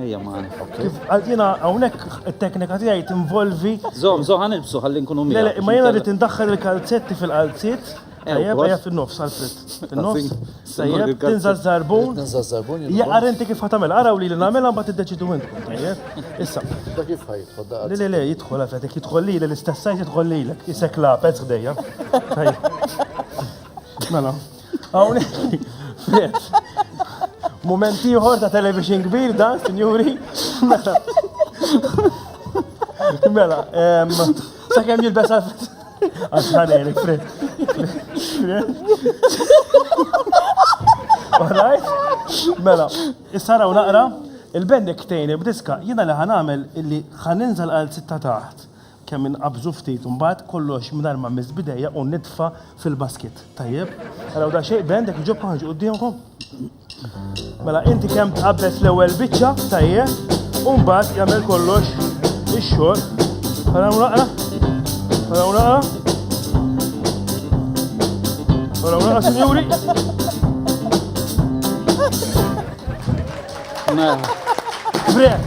Ejja ma Kif jiena hawnhekk it-teknika tiegħi tinvolvi. Żomm, żomm ħan ilbsu ħalli nkunu minn. Le, ma jiena rrid indaħħal il-kalzetti fil-qalziet. Ejja, ejja fin-nofs għalfit. Fin-nofs. Ejja, tinża żarbun. Tinża żarbun. Ja ara inti kif ħatamel, araw li li nagħmilha mbagħad iddeċidu intkom. Ejja. Issa. Da kif ħajtħol da. Le, le, le, jidħol għalfet, jidħol li l-istess sajt jidħol lilek. Isek la pezz ħdejja. Mela. Hawnhekk, Fred. Mument ieħor ta' television kbir dan, sinjuri. Mela. Mela, sakemm jilbes għal Għaxħanerik, Fred. Alright? Mela, issa raw naqra, il-bendek tejni b'diska, jina li ħanamel illi ħaninżal għal sitta taħt. Kemm inqabżu ftit u mbagħad kollox mingħajr ma mmiss b'idejja u nitfa' fil-basket. Tajjeb? Araw daqsxejn band jekk iġobkom ħarġu quddiemkom. Mela inti kemm tqabbes l-ewwel biċċa, tajjeb, u mbagħad jagħmel kollox ix-xogħol. Araw naqra. Araw naqra. Araw naqra, sinjuri. Mela. Breath.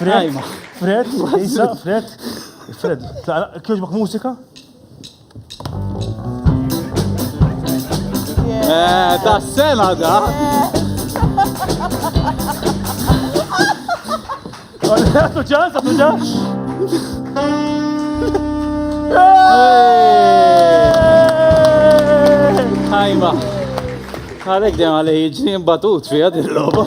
Fred, Fred, Isa, Fred, Fred, kjoġbok musika? Eh, ta' sena da! Għatu ġan, għatu ġan! Ħajma! Għalek dem għalej ġni batut fija dil-loba.